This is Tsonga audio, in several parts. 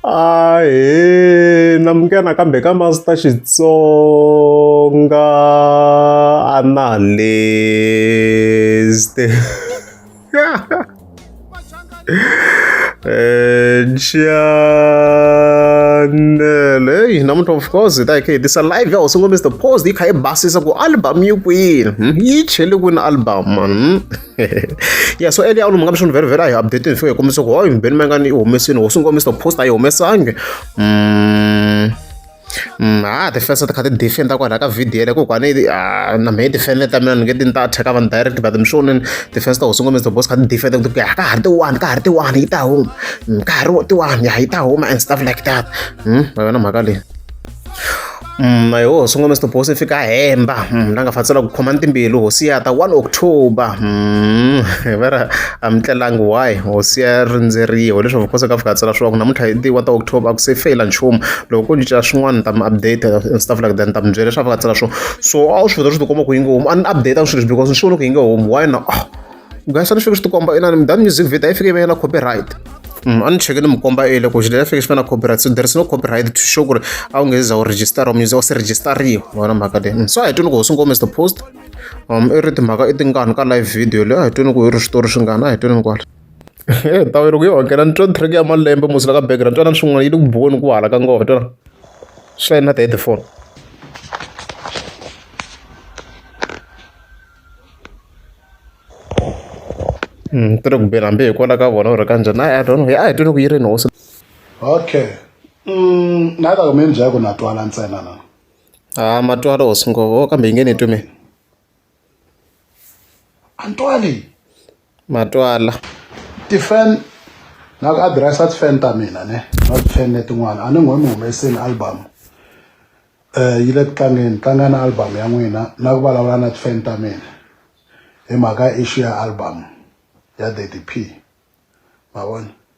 ahe namuke nakambe ka master xitsonga analyst chanel heyi namuntlha of course hi ta hi kha hi tisa live ya hosi ngomisa the post yi kha yi basisa ku album yi kwini yi chele kwini album mani yeah so earlier on mungabe shona vele vele ayi update ngifike komise ku hayi ngibeni mangani ihomesini wo sungo Mr post ayi homesange mm mm ah the first ka defend kwa ka video le ko kwa ne ah, na me defend ta mina nge tin ta attack van direct but mshonen the first wo sungo Mr boss ka defend ku ka ka harte one ka harte one ita home mm, ka harte one ya ita home and stuff like that mm wena makale Mm, hi hosi sungula Mr Boss fika hemba mm, la nga fatsela ku khoma timbilu hosi ya ta 1 October mm, vera amtlelangi why hosi ya rindzeriwa leswi vukosi ka fika tsela swa ku namuntlha hi ti 1 October ku se fail nchumu loko ku cinca swin'wana ta update and stuff like that ta mi byela leswi fika tsela swo so a wu swi vona swi tikoma ku yinge homu an update swilo because ni swi vona ku yinge homu why na oh. guys a ni fike swi tikomba inani mi dani music video a yi fike yi va yi na copyright a ni cheke ni mi komba ele ku xilo ya fike xi va na copyright so there is no copyright to show ku ri a wu nge za u register or music u se registariwa wona mhaka leyi so a hi twini ku hosi ngome is the post um i ri timhaka i tingani ka live video leyi a hi twini ku i ri switori swingani a hi twini kwala ndhawu loko yi hokela ni twa track ya malembe musila ka background twana swin'wana yi le ku boni ku hala ka ngoma twana swi na ti-headphone ni ri ku beni hambi hi kona ka vona or ka njhani a hi don't know a hi twile ku yi rini hosi okay mm, na ta mi byela ku na twala ntsena na a matwala hosi nghovo kambe yi nge ni twi mina a ni twali matwala ti-fan na ku address-a ti-fan ta mina ne na ti-fan letin'wana a ni n'wi mi humesini album um yi le ku tlangeni tlanga na album ya n'wina na ku vulavula na ti-fan ta mina hi mhaka issue ya album ya Daddy P ma vona.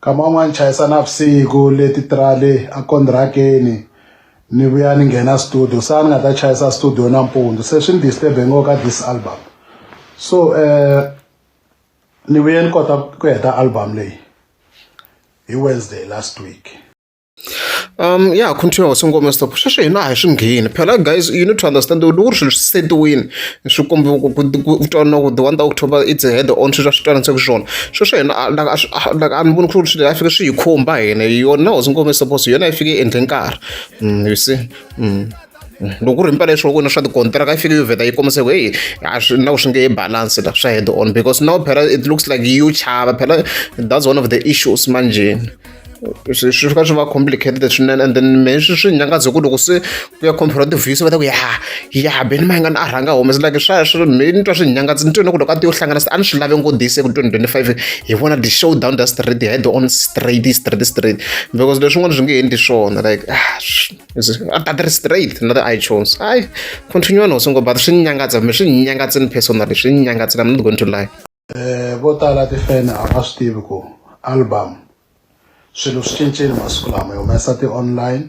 Nkama wun'wani ni chayisa navusiku le titirale a kondirakeni ni vuya ni nghena studio sa ni nga ta chayisa studio nampundzu se swi ni disturbe ngo ka this album so um ni vuye ni kota ku heta album leyi hi Wednesday last week. Um ya continue hosi ngoma stop sweswi hina a hi swi ngheni phela guys you need to understand loko ku ri swilo swi setiwini swi kombe ku twana ku the one october it's a head on sweswi a swi twana se ku swona sweswi hina like a ni voni ku ri swilo a fike swi hi khumba hina yona hosi ngoma stop yona yi fike endle nkarhi you see. loko ku ri mpela leswi wena swa tikontiraka yi fike yi vheta yi kombise ku heyi a swi na ku swi nge yi balance la swa head on because now phela it looks like you chava phela that's one of the issues manjeni swi swi fika swi va complicated swinene and then me swi swi nyangaze ku loko se ku ya compare ti-views va ta ku ya ya beni ma yingani a rhanga humese like swa swi me ni twa swi nyangaze ni twe ni ku loko a ti yo hlangana a ni swi lave ngodise ku twenty twenty five hi vona the show down the street head on straight straight straight because leswin'wana swi nge endli swona like ah, Battery straight na ti-iTunes. Hayi, continue no songo battery swi ni nyangatsa mi swi ni nyangatsa ni personally swi ni nyangatsa I'm not going to lie. Eh vo tala tifeni a va swi tivi ku album swilo swi cincile masiku lama yi humesa ti-online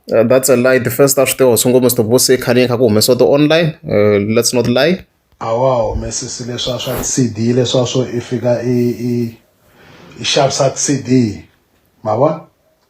Uh, that's a lie the first a swi tiva songo mr bosi i khani kha ku humesiwa ti-online uh, let's not lie a wa humesisi leswa swa cd leswa swo i fika i i i xavisa cd ma vona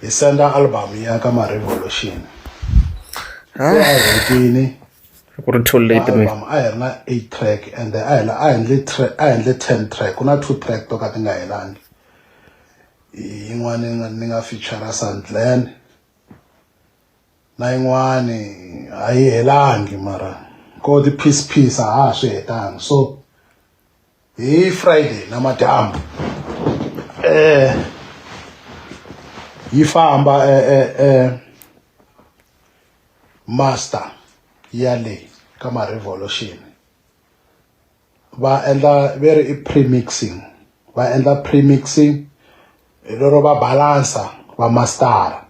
hi senda album ya ka ma revolution a hi hetini ku ri too late me album a hi ri na 8 track and a hi a hi ndle a hi ndle 10 track ku na 2 track to ka ti nga helangi yin'wana ni nga feature Sandland na yin'wana a yi helangi mara ko ti piece piece a ha swi hetangi so hi friday namadyambu eh yi famba eh, eh, eh, master ya le ka ma-revolution va endla ve ri i premixing va endla premixing hi lero va balansa va mastara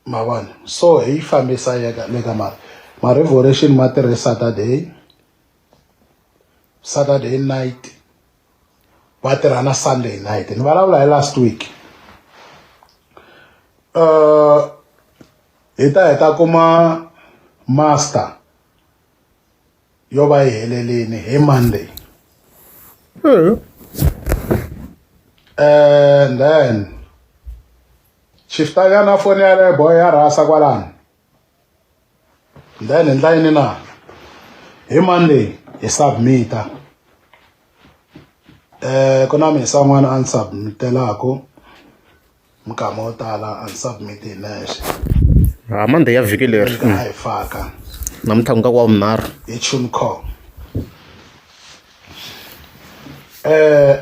ma vona so hi fambisa yeka le ka mara ma revolution ma tirhe saturday saturday night va tirha na sunday night ni vulavula hi last week uh, hi ta hi ta kuma master yo va yi helelini hi monday mm. and then chiftanyana foni yaleyo boy ya rhasa kwalani then hi ndlayini na hi monday hi submita um ku na misa n'wana a ni submitelaku Minkama yo tala a ni submit hi nexe. Ha Monday ya vhiki leri. Ni nga yi faka. Namuntlha ku nga wa vunharhu. Hi Tuncom. Eh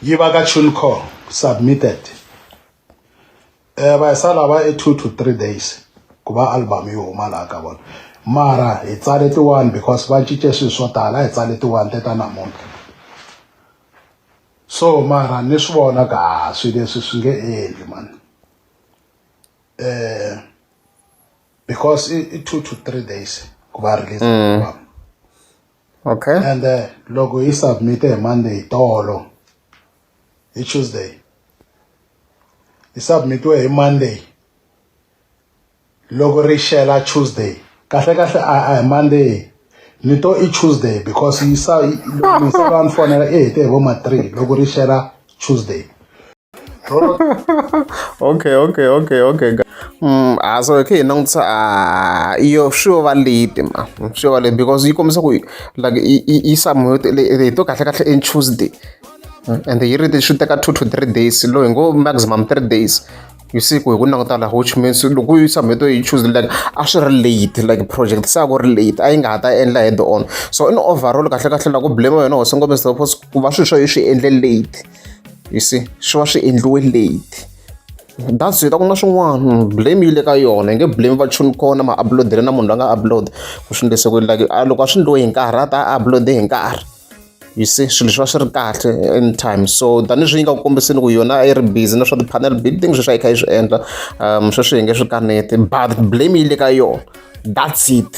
yi va ka Tuncom submitted. Eh va sa lava i 2 to 3 days ku va album yi huma laha ka vona. Mara hi tsale tiwani because va cince swilo swo tala a hi tsale tiwani te ta namuntlha. so mara ni swi vona ka swi leswi swi nge endli man eh because i, i two to three days ku va release mm. okay and uh, loko yi submit hi monday tolo hi tuesday yi submitiwe hi monday loko ri xela tuesday kahle kahle a a hi monday ni to i tuesday because yi sa loko misava ni fonela i hete hi vo ma three loko ri xela tuesday okay okay okay okay mm a so khe hi langutisa a yo swi va late ma swi va late because yi kombisa ku like yi samu hi to kahle kahle in tuesday and yi ri swi teka two to three days loyi ngo maximum three days You see ku hi ku languta laha which means loko u yi submit u yi choose like a swi ri late like project se a ku ri late a yi nga ha ta endla head on so in overall kahle kahle la ku blame wena ho sungula mr pos ku va swilo swa yi swi endle late you see swi va swi endliwe late that's it a ku na swin'wana blame yi le ka yona yi nge blame va chuni kona ma upload-ele na munhu la nga upload ku swi endlise ku like a loko a swi endliwe hi nkarhi a ta a upload hi nkarhi You see swilo leswi va swi ri kahle anytime so tanihileswi yi nga ku kombiseni ku yona a yi ri busy na swa ti-panel building sweswi a yi kha yi swi endla um sweswi hi nge swi kaneti but blame yi le ka yona that's it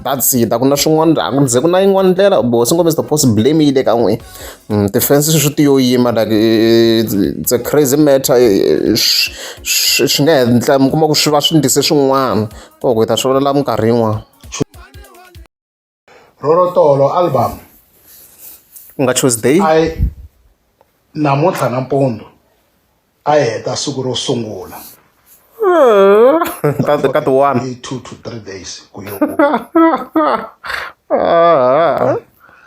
that's it a ku na swin'wana a ku ze ku na yin'wana ndlela bo swi ngo mr post blame yi le ka n'wina mm, ti-fence sweswi ti yo yima like it's a crazy matter swi nga hetla mi kuma ku swi va swi ndise swin'wana ko ku hi ta swi vona la minkarhi yin'wana rorotolo album ku nga tuesday a yi namuntlha nampundzu a yi heta siku ro sungula ka ka ti one i two to three days ku yo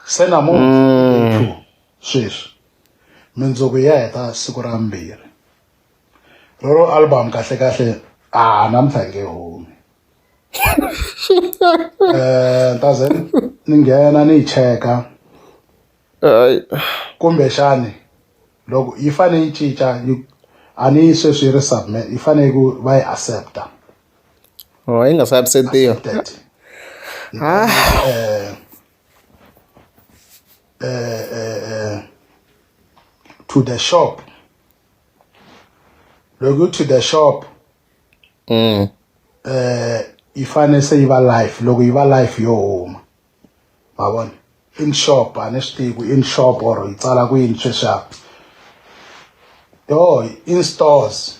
se namuntlha two sweswi mindzuku ya heta siku ra mbirhi roro album kahle kahle a namuntlha nge humi um ta ze ni nghena ni yi cheka kumbexani loko yi fane yi cinca yi a ni yi sweswi yi ri submit yi fane ku va yi accepta oh yi nga se acceptiwa ah. eh, eh, eh, to the shop loko to the shop mm. eh yi fane se yi va life loko yi va life yo huma ma vona in shop a ni swi tivi ku in shop or yi tsala ku yini sweswiaku yo in stores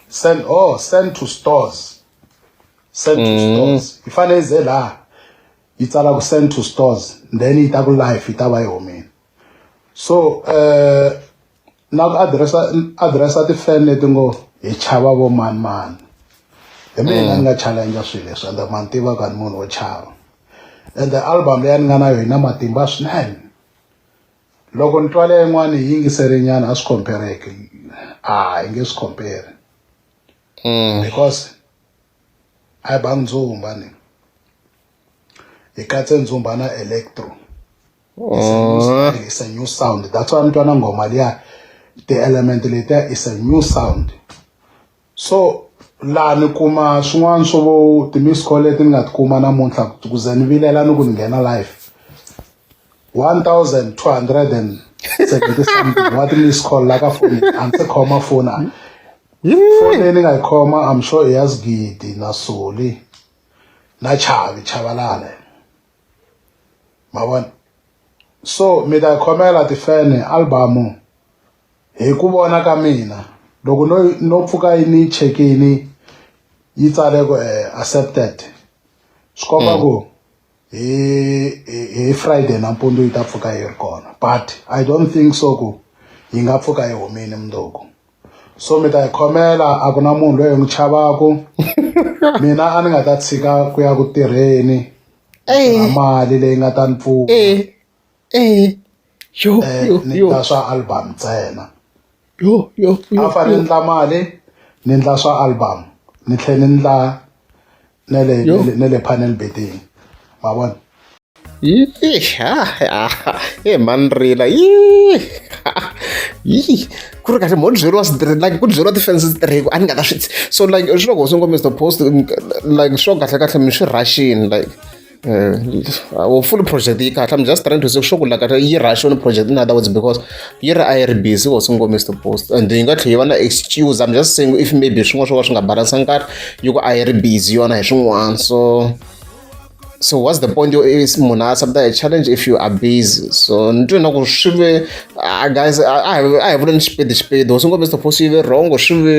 send oh send to stores send to mm. stores yi fane yi ze laha yi tsala ku send to stores then yi ta ku life yi ta va yi humile so um na ku adiresa adiresa tifeni leti ngo hi chava vo mani mani hi mina mm. ni nga challenge swilo leswi ende ma ni tivaka ni munhu wo chava and the album leyi ni nga na yona matimba swinene loko ni twala yin'wana yi yingiserinyana a swi compareki a hi nge swi compare mm. because a yi bangi ndzumba ni hi katse ndzumba na electro Oh. It's a new sound. That's why I'm trying to go, Malia. The element later is a new sound. So, laha ni kuma swin'wana swo vo ti-miss call leti ni nga ti kuma namuntlha ku ze ni vilela ni ku ni nghena life one thousand two hundred and seventy something wa ti-miss call la ka foni a ndzi khoma foni a foni leyi ni nga yi khoma am sure i ya sgidi na soli na chavi chavalale ma vona so mi ta khomela tifene albamu hi ku vona ka mina loko no no pfuka yi ni chekini yi tsale ku eh, accepted swi komba mm. ku hi hi friday nampundzu yi ta pfuka yi ri kona but i don't think so ku yi nga pfuka yi humile mundzuku so mi ta yi khomela a ku na munhu loyi hi n'wi chavaku mina a ni nga ta tshika ku ya ku tirheni na mali leyi nga ta ni pfuna eh, eh, ni ta swa album ntsena a fane ni ndla mali ni ndla swa album ni tlhela ni ndla ne le Yo. ne le- ne le panel beating wa bona e mani rila ku ri kahle mo byeriwa switirhi like ku byeriwa ti-fans switirhiku a ni nga ta swi so like swi loko swi ngo mr post like swo kahle kahle mi swi rhaxini like Uh, full project yi kahle i'm just trying to say sure ku la kahle yi rush on project in other words because yi ri a yi ri busy was ngo miss the post and yi nga tlhe yi va na excuse i'm just saying if maybe swin'wana swo ka swi nga balance nkarhi yi ku a yi ri busy yona hi swin'wana so so what's the point is munhu a submita a challenge if you are busy so ni twe na ku swi ve ah, guys a hi vuleni xipedi xipedi was ngo miss the post yi ve wrong swi ve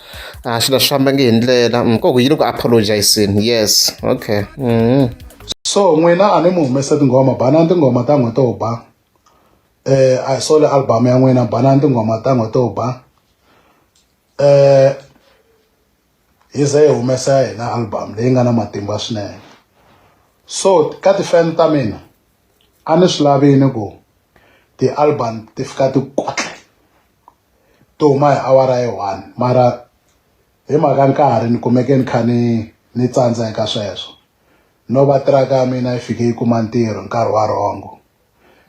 a swilo swi fambangi hi ndlela mm, ko ku yini ku apologizeni yes okay mm. so n'wina a ni mi humesa tinghoma banani tinghoma ta n'we to ba eh a hi sole album ya n'wina banani tinghoma ta n'we to ba eh hi ze hi humesa ya hina album leyi nga na matimba swinene so ka tifan ta mina a ni swi lavini ku ti-album ti fika ti kwatla to huma hi awara ya one mara hi mhaka nkarhi ni kumeke ni kha ni ni tsandza eka sweswo no va tiraka ya mina yi fike yi kuma ntirho nkarhi wa rongo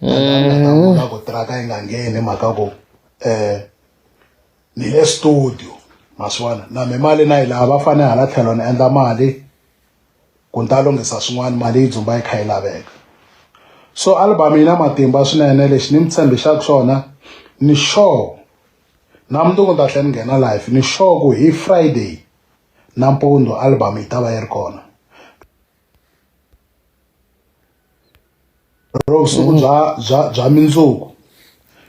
mm. ku tiraka yi nga ngheni mhaka ku um ni le studio ma swi vona na mi mali na yi laha va fane hala tlhelo ni endla mali ku ni ta lunghisa swin'wana mali yi dzumba yi kha yi laveka so album yi na matimba swinene lexi ni mi tshembixaka xona ni sure na mundzuku ni ta tlhela ni nghena life ni sure ku hi friday nampundzu album yi ta va yi ri kona ro vusiku mm. bya bya bya mindzuku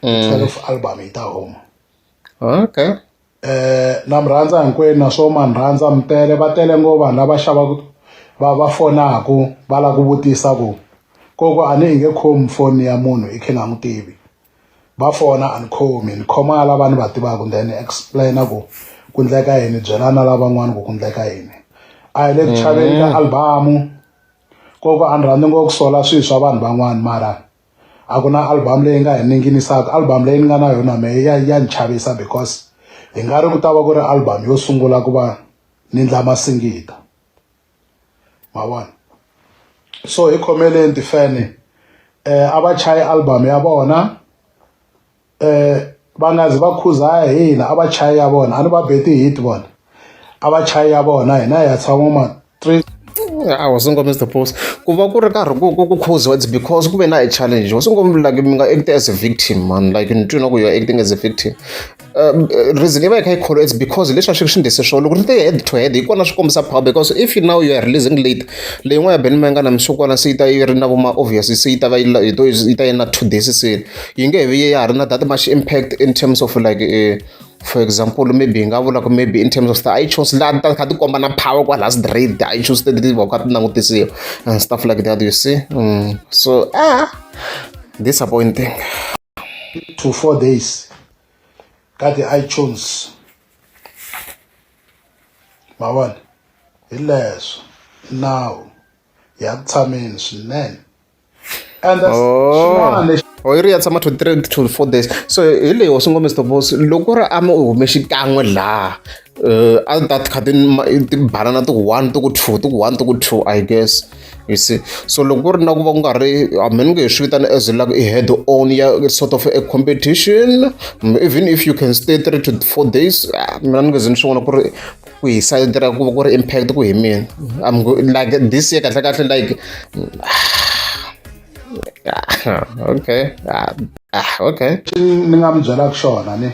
mm. twelve album yi ta huma okay eh, na mi rhandza hinkwenu naswo ma ni rhandza mi tele va tele ngo vanhu lava xavaku va va fonaku va lava ku vutisa ku koko a ni inge khomi foni ya munhu i khe nga n'wi tivi va fona a ni khomi ni khoma lava ni va tivaku then explaina ku ku ndleka yini byela na lavan'wana ku ku ndleka yini a hi le ku chaveni ka mm. albamu koko a ni rhandzi ngo ku sola swilo swa vanhu van'wana mara a ku na album leyi nga hi ninginisaka album leyi ni nga na yona me ya ya ni chavisa because hi nga ri ku ta va ku ri album yo sungula ku va ni ndla masingita ma vona so hi khomeleni tifene eh a va chayi album ya vona eh va nga zi va khuza hina a va chayi ya vona a ni va beti hit vona a va chayi ya vona hina hi ya tshama ma three I wasn't gonna miss the post. Ku va ku ri karhi ku ku ku khuziwa it's because ku ve na a challenge. Wasn't gonna like mi nga act as a victim man like ni twi na ku you are acting as a victim. Um, reason yi va yi kha yi kholo it's because leswi a swi swi ndise swona loko ri te head to head hi kona swi kombisa power because if you now you are releasing late leyin'wana ya benimanga na msukwana se yi ta yi ri na vuma obvious se yi ta va yi yi to yi ta yi na two days se yi nge he vi ya ha ri na that much impact in terms of like uh, for example maybe hi nga vula ku maybe in terms of the ichones laha ti ta kha ti komba na power kwala straight the ichones teti ti va kha ti langutisiwa and stuff like that you see mm. so ah disappointing to four days ka ti-ichones ma vona hi leswo nawu ya tshameni swinene and that's xin'wana lexi or yi ri ya tshama 23 to 24 days so hi leyi hosi ngome stobos loko ku ri a mi u hume xikan'we laha uh, a ta kha tibanana ti ku one ti ku two ti ku one ti ku two i guess you see so loko ku ri na ku va ku nga ri hambi ni nge hi swi vitana as like i head on ya sort of a competition even if you can stay three to four days ah, mina ni nge ze ni swi vona ku ri ku hisa yi tirha ku va ku ri impact ku hi mina I'm go- like this year kahle kahle like okay ah, ah, okay Xi ni nga mi byelaka xona ni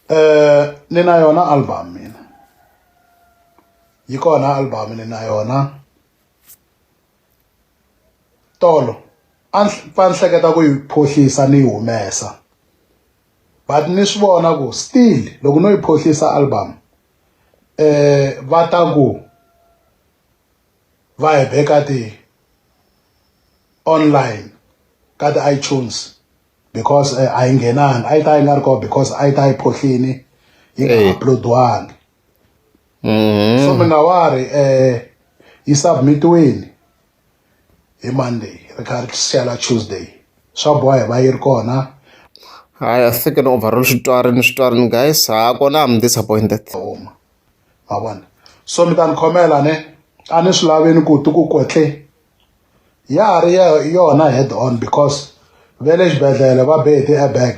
eh ni na yona album mina yi kona album ni na yona tolo a ni hl- va ni hleketa ku yi phohlisa ni yi humesa but ni swi vona ku still loko no yi phohlisa album eh va ta ku va hi beka ti online ka ti iTunes because eh, a yi nghenanga a yi ta yi nga ri kona because a yi ta yi phohlini yi nga eh. uploadiwangi mm-hmm. so mina wa ri um yi submitiweni hi monday ri kha ri siyela tuesday swa boha hi va yi ri kona hayi a fike ni overall switori ni switori ni guys ha kona am disappointed homa ma vona so mi ta ni khomela ne a ni swi laveni ku ti ku kotle ya ha ri yona head on because ve le xibedhlele va be hi ti-airbag